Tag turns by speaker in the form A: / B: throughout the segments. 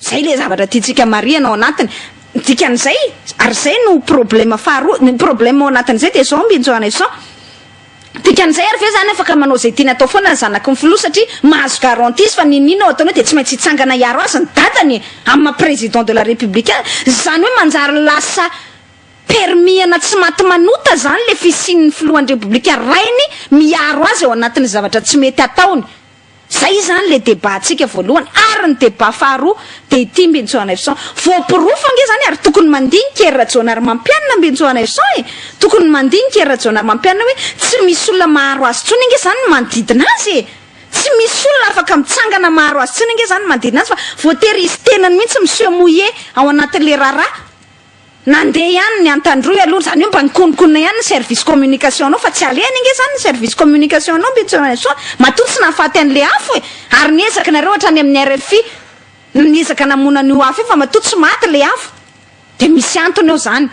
A: zay le zavatra tiantsika marihana ao anatiny ny dikan'izay ary zay no problema faharoa ny problema ao anatin'izay dia zao mbinjo an'eson Dikan'izay ary ve izany afaka manao izay tiany atao foana ny zanaky ny filoha satria mahazo garanties fa n'inon'inona ao ataony ao dia tsy maintsy hitsangana hiaro azy ny dadany e! amin'ny maha président de la république azy? Izany hoe manjary lasa permis-ana tsy maty manota izany ilay fisian'ny filohan'ny repoblika rainy miaro azy ao anatin'ny zavatra tsy mety ataony? Izay izany ilay débat ntsika voalohany ary ny débat faharoa dia ity Mbentsou Hanaivoson. Voaporofo ange izany ary tokony mandinika ery Rajaonarimampianina Mbentsou Hanaivoson e! Tokony mandinika ery Rajaonarimampianina hoe tsy misy olona maharo azy intsony ange izany ny manodidina azy e! Tsy misy olona afaka mitsangana maharo azy intsony ange izany ny manodidina azy fa voatery izy tenany mihitsy miseho mouillé ao anatin'ilay raharaha. Nandeha ihany ny Antandroy aloha, izany hoe mba nikonokonona ihany ny service communication anao fa tsy alehany ange izany ny service communication anao Mbetsoainsoa, matoa tsy nahafaty an'ilay afo e! ary ny ezakinareo hatrany amin'ny rfi no niezaka namono an'io afo io fa matoa tsy maty ilay afo dia misy antony ao izany.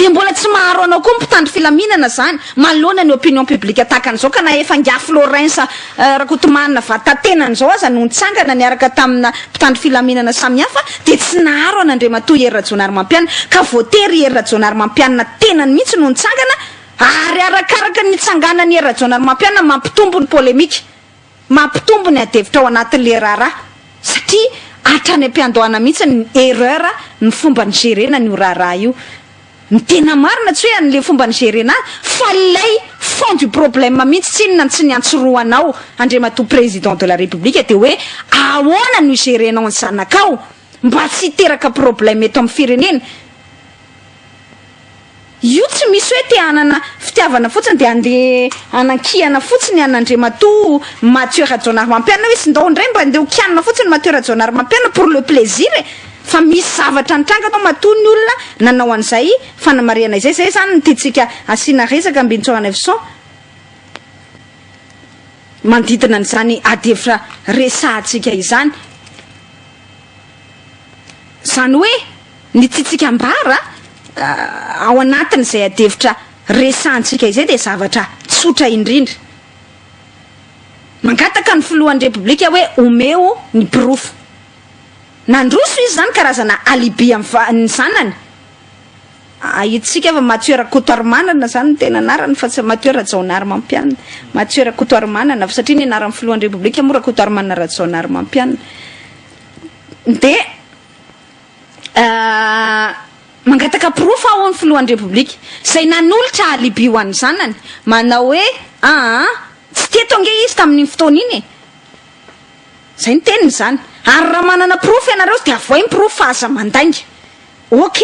A: Dia mbola tsy maharo anao koa ny mpitandro filaminana izany manoloana ny opinion publique tahaka an'izao ka na efa ingahy Florence Rakotomana Vatatenany izao aza no nitsangana niaraka tamina mpitandro filaminana samihafa dia tsy naharo an'Andriamatoa Hery Rajaonarimampianina ka voatery i Hery Rajaonarimampianina tenany mihitsy no nitsangana ary arakaraka ny nitsanganan'i Hery Rajaonarimampianina mampitombo ny polemika Mampitombo ny adihevitra ao anatin'ilay raharaha satria hatrany am-piandohana mihitsy ny erreur ny fomba nigerena an'io raharaha io. Ny tena marina tsy hoe an'ilay fomba nigerena azy fa ilay fond du problème mihitsy tsy inona no tsy niantsorohanao Andriamatoa Président de la République dia hoe ahoana no igerenao ny zanakao? Mba tsy hiteraka problème eto amin'ny firenena. Io tsy misy hoe te hanana fitiavana fotsiny dia handeha hanankihana fotsiny an' Andriamatoa Mathieu Rajaonarimampianina hoe sndao indray mba handeha ho kianina fotsiny Mathieu Rajaonarimampianina pour le plaisir e! Fa misy zavatra nitranga tao matoa ny olona nanao an'izay fanamarihana izay. Izay izany no tiantsika asiana resaka Ambintsao Hanaivoson. manodidina an'izany ady hevitra resahantsika izany. Izany hoe ny tiantsika ambara ao anatin'izay ady hevitra resahantsika izay dia zavatra tsotra indrindra. Mangataka ny filohan'ny Repoblika hoe omeo ny porofo. Nandroso izy izany karazana alibi an'ny zanany. Ahitsika fa Mathieu Rakotoarimanana zany ny tena anarany fa tsy Mathieu Rajaonarimampianina. Mathieu Rakotoarimanana, satria ny anaran'ny filohan'ny Repoblika moa Rakotoarimanana Rajaonarimampianina. Dia mangataka porofo aho hoy ny filohan'ny Repoblika, izay nanolotra alibi ho an'ny zanany, manao hoe aa, tsy teto ange izy tamin'iny fotoana iny e. Izay ny teniny izany. Ary raha manana porofo ianareo dia avohay ny porofo fa aza mandainga. Ok!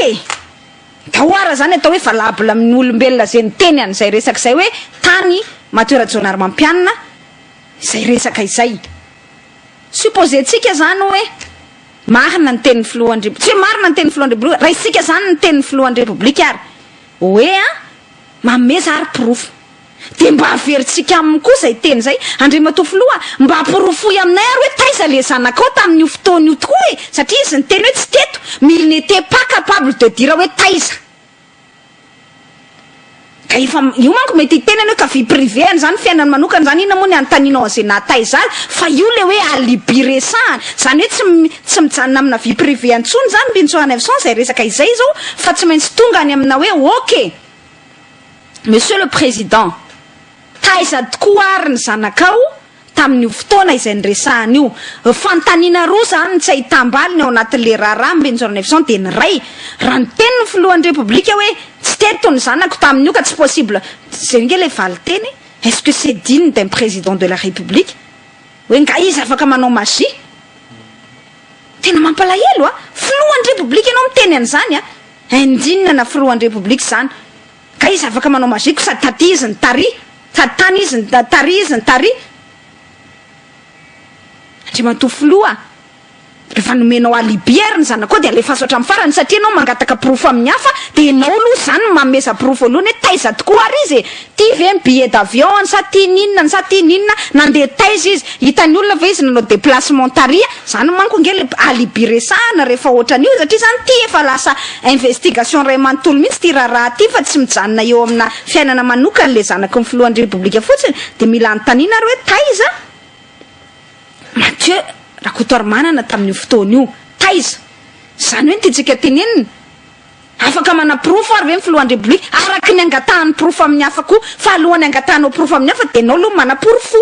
A: Tahoara zany atao hoe valable amin'ny olombelona ze miteny an'izay resaka izay hoe tany Matoeradjoanarimampianina izay resaka izay. Supposer-tsika zany hoe marina ny tenin'ny filohan-dRep, tsy hoe marina ny tenin'ny filohan-dRepoblika, raisitsika zany ny tenin'ny filohan-dRepoblika ary hoe an, manome za ary porofo. Dia mba averintsika aminy koa izay teny izay, Andriamatoa Filoha a, mba porofoy aminay ary hoe taiza ilay zanakao tamin'io fotoana io tokoa e! Satria izy niteny hoe tsy teto, mais il n'etait pas capable de dire hoe taiza. Ka efa, io manko mety hiteny ianao hoe ka vie privée an'izany, fiainany manokana izany, inona moa ny hanontanianao an'izay naha taiza azy? Fa io ilay hoe alibi resahana. Izany hoe tsy, tsy mijanona amina vie privée intsony izany Mpintsora Neufcent izay resaka izay izao, fa tsy maintsy tonga any amina hoe ok. Monsieur le Président, taiza tokoa ary ny zanakao tamin'io fotoana izay niresahana io? Fanontaniana roa izany no tsy ahitam-baliny ao anatin'ilay raharaha am-ben'ny Jaona Neveson dia ny iray, raha niteny ny Filohan'ny Repoblika hoe tsy teto ny zanako tamin'io ka tsy possible, izay ange ilay valinteny, est-ce que c'est digne d'un Président de la République? hoe nga izy afaka manao magie? Tena mampalahelo a! Filohan'ny Repoblika ianao miteny an'izany a! Indinina na filohan'ny Repoblika izany. Ka izy afaka manao magie ko sady taty izy no tary, sady tany izy no tary, tary izy no tary. Andriamatoa Filoha, rehefa nomenao alibi ary ny zanakao dia alefaso hatramin'ny farany satria ianao mangataka porofo amin'ny hafa dia ianao aloha izany no manomeza porofo voalohany hoe taiza tokoa ary izy e! Tia ve ny billet d'avion-ny sa tia ny inona ny sa tia ny inona, nandeha taiza izy, hitan'ny olona ve izy nanao déplacement tary, zany manko ange le alibi resahana rehefa ohatran'io satria zany ity efa lasa investigation ray manontolo mihitsy ity raharaha ity fa tsy mijanona eo amina fiainana manokany le zanaky ny filohan'ny repoblika fotsiny de mila anontaniana ary hoe taiza Mathieu Rakotoarimanana tamin'io fotoana io, taiza? zany hoe ny tiantsika tenenina Afaka manaporofo ary ve ny filohan-drebliky araka ny angatahany porofo amin'ny hafa koa fa alohan'ny angatahanao porofo amin'ny hafa dia ianao aloha no manaporofo.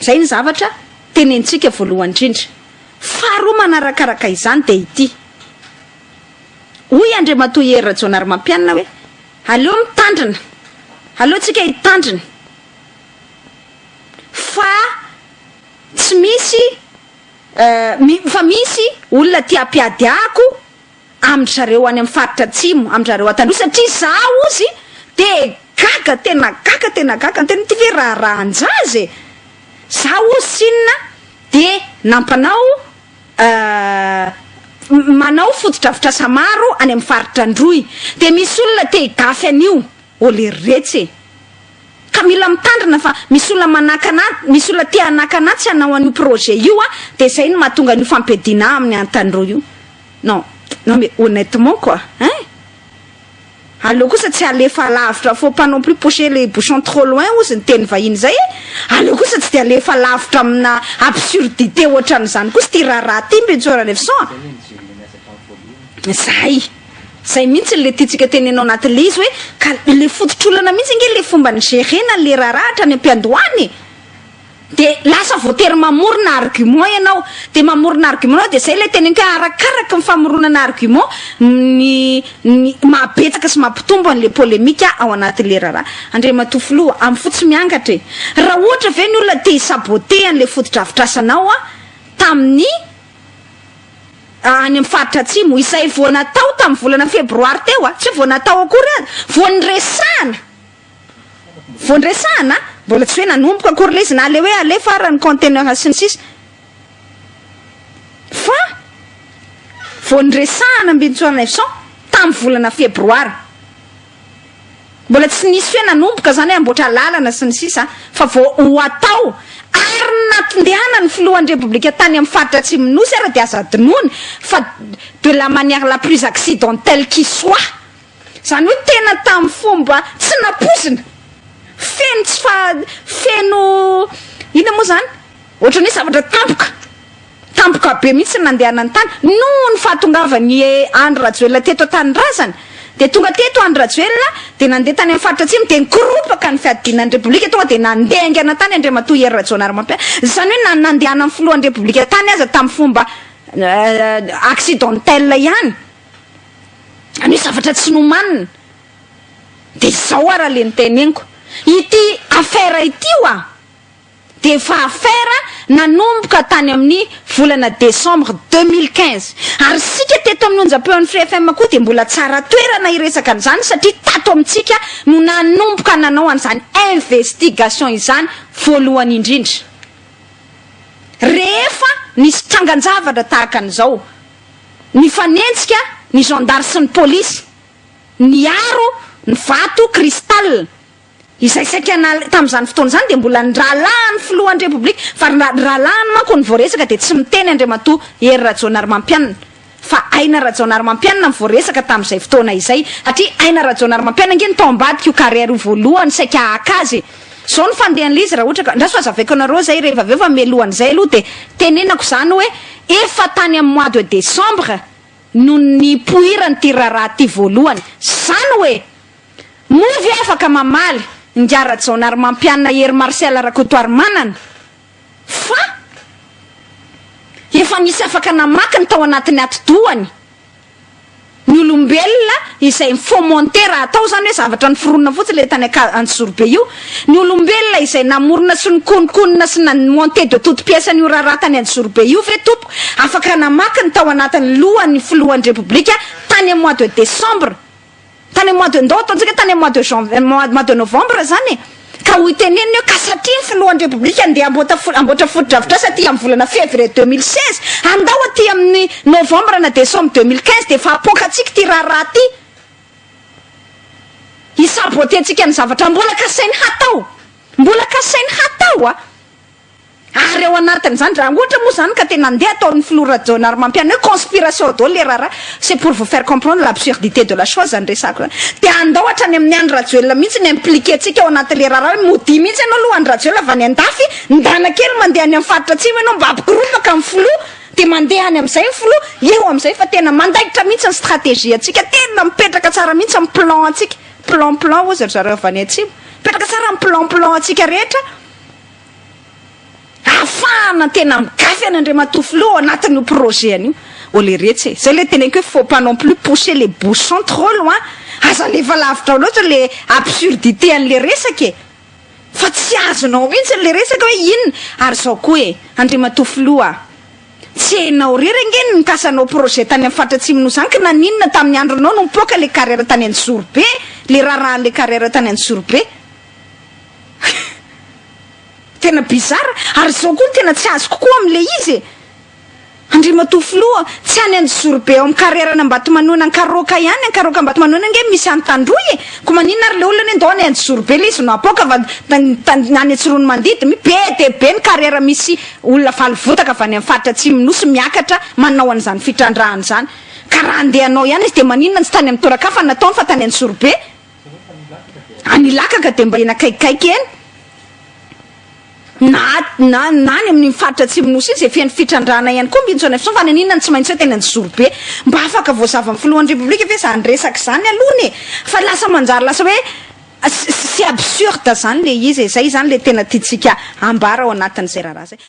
A: Izay ny zavatra tenentsika voalohany indrindra. Faharoa manarakaraka izany dia ity. Hoy Andriamatoa Hery Rajaonarimampianina hoe aleo mitandrina, aleo tsika hitandrina fa tsy misy. Eeh fa misy olona tia ampiady ako amin-dry zareo any amin'ny faritra atsimo amin-dry zareo an-tandroy satria za ozy de gaga tena gaga tena gaga tena ity ve raharahan-jaza e! za ozy tsinona de nampanao eeh manao fotodrafitrasa maro any amin'ny faritra androy de misy olona te higafy an'io ô lerretsy e! Ka mila mitandrina fa misy olona manakana misy olona te hanakana tsy hanao an'io projet io a, dia izay no mahatonga an'io fampiadiana amin'ny antaniro io. Non, non mais honnêtement quoi, hein? Aleo kosa tsy alefa alavitra, faut pas non plus pousser les bouchons trop loin ozy ny teny vahiny izay e! Aleo kosa tsy dia alefa lavitra amina absurdité ohatran'izany kosa ity raharaha ity Bentsy Oralefison a! Izay! Zay mihitsy le tiantsika tenena ao anaty le izy hoe ka le fototr'olana mihitsy ange le fomba ny gerena le raharaha hatrany ampiandohana e! de lasa voatery mamorona argument ianao de mamorona argument ianao de zay le teneniko hoe arakaraky ny famoronana argument ny ny mahabetsaka sy mampitombo an'le polemika ao anaty le raharaha Andriamatoa Filoha amin'ny fo tsy miangatra e! raha ohatra ve ny olona te hi-saboter an'le fotodrafitrasanao tamin'ny any amin'ny faritra Atsimo, izay vao natao tamin'ny volana febroary teo, tsy vao natao akory aza, vao niresahana, vao niresahana, mbola tsy hoe nanomboka akory ilay izy na ilay hoe alefa ary ny conteneur sy ny sisa, fa vao niresahana am-bintswr Neufcent tamin'ny volana febroary. Mbola tsy nisy hoe nanomboka izany hoe hamboatra lalana sy ny sisa fa vao ho atao. Ary ny natondeana ny filohan'ny Repoblika tany amin'ny faritra atsimon'ny Nosy ary dia aza adinoina fa de la manière la plus accidentelle qui soit. Izany hoe tena tamin'ny fomba tsy nampoizina. Feno tsy faha, feno inona moa izany? Ohatran'ny hoe zavatra tampoka. Tampoka be mihitsy ny nandehanany tany. Noho ny fahatongavan'i Andry Rajoelina teto an-tanindrazana, dia tonga teto Andry Rajoelina, dia nandeha tany amin'ny faritra atsimo, dia nikoropaka ny fiadiana ny Repoblika, tonga dia nandeha haingana tany Andriamatoa Hery Rajaonarimampianina. Izany hoe na ny nandehanan'ny Filohan'ny Repoblika tany aza tamin'ny fomba accidentel ihany, izany hoe zavatra tsy nomanina. Dia izao ary le niteneniko. Ity affaire ity ho'a! dia efa affaire nanomboka tany amin'ny volana décembre deux mille quinze ary isika teto amin'ny onjam-peon'ny Free FM koa dia mbola tsara toerana hiresaka an'izany satria tato amintsika no nanomboka nanao an'izany investigation izany voalohany indrindra rehefa nisy trangan-javatra tahaka an'izao nifanenjika ny zandary sy ny polisy niaro ny vato cristal Izay saika nal tamin'izany fotoana izany dia mbola ny rahalahin'ny filohan'ny Repoblika fa ny ny rahalahiny manko no voaresaka dia tsy miteny Andriamatoa Hery Rajaonarimampianina fa Aina Rajaonarimampianina no voaresaka tamin'izay fotoana izay satria Aina Rajaonarimampianina ange no tao ambadika io carrière io voalohany saika haka azy e! Zao ny fandehan'ilay izy raha ohatra ka andraso hazavaiko anareo zay reheva avy eo fa mialohan'izay aloha dia tenenako izany hoe efa tany amin'ny mois de décembre no nipoiran'ity raharaha ity voalohany. Zany hoe! Moa ve afaka mamaly Ingahy Rajaonarimampianina Hery Marcel Rakotoarimanana fa efa nisy afaka namaky ny tao anatin'ny atidohany ny olombelona izay mi-fomenter raha atao izany hoe zavatra niforonina fotsiny ilay tany Antsizorobe io, ny olombelona izay namorona sy nikononkonona sy na-monter de toute pièce an'io raharaha tany Antsizorobe io ve tompoko afaka namaky ny tao anatin'ny lohan'ny Filohan'ny Repoblika tany amin'ny mois de décembre Tany mois de ndao ataontsika tany mois de jan mois de novembre zany e. Ka ho itenenina eo ka satria ny filohan'ny repoblika andeha hamboata hamboatra fotodrafitrasa aty amin'ny volana fevrier deux mille seize andao aty amin'ny novembre na decembre deux mille quinze dia efa hapoakatsika ity raharaha ity hi saboter antsika ny zavatra mbola kasainy hatao mbola kasainy hatao a. Ary ao anatin'izany, raha ohatra moa izany ka tena andeha ataon'ny filoha Rajaonarimampianina hoe conspiration daholo ilay raharaha, c'est pour vous faire comprendre l'absurdité de la chose izany resahako izany. Dia andao hatrany amin'i Andry Rajoelina mihitsy ny impliquer antsika ao anatin'ilay raharaha hoe modia mihitsy ianao aloha Andry Rajoelina avy any an-dafy, ndana kely mandeha any amin'ny faritra atsimo ianao mba hampikorotaka amin'ny filoha, dia mandeha any amin'izay ny filoha, eo amin'izay fa tena mandaitra mihitsy ny stratégie antsika, tena mipetraka tsara mihitsy ny plan antsika, plan plan hozy ry zareo avy any atsimo, mipetraka tsara ny plan plan antsika rehetra. Afahana tena migafy an Andriamatoa Filoha ao anatin io projet-ny io. Ô le retsy e! Zay le teneniko hoe faut pas non plus pousser les bouchons trop loin, aza alefa lavitra loatra le absurdité an le resaka e! Fa tsy azonao mihintsy an le resaka hoe inona? Ary zao koa e! Andriamatoa Filoha a! Tsy enao rery ange ny nikasanao projet tany am faritra Atsimo Nosy zany ka naninona tamin'ny andronao no nipoaka le carrière tany Anjizorobe, le raharahan le carrière tany Anjizorobe? Tena bizarre ary zao koa ny tena tsy azoko koa am le izy e! Andriamatoa Filoha, tsy any Anjozorobe ao am karerana Ambatomanoina Ankaroaka ihany, Ankaroaka Ambatomanoina ange misy any Tandroy e! Ko maninona ary le olona anie ndao any Anjozorobe le izy no apoaka fa any Antsiroanomandidy mi be dia be ny karera misy olona valivotaka avy any am faritra Atsimon'ny Nosy miakatra manao an'izany fitrandrahana izany ka raha andeha hanao ihany izy dia maninona tsy tany am toeran-kafa nataony fa tany Anjozorobe Any Ilakaka dia mba eny akaikikaiky eny, na na na any amin'ny faritra atsimon'ny Nosy iny izay feno fitrandrahana ihany koa ny mbintsona fisotro fa naninona no tsy maintsy hoe teny Anjozorobe? Mba afaka voazava amin'ny filohan'ny Repoblika ve izany resaka izany alohany e? Fa lasa manjary lasa hoe c'est absurde izany ilay izy e, izay izany ilay tena tiantsika hambara ao anatin'izay raharaha izay.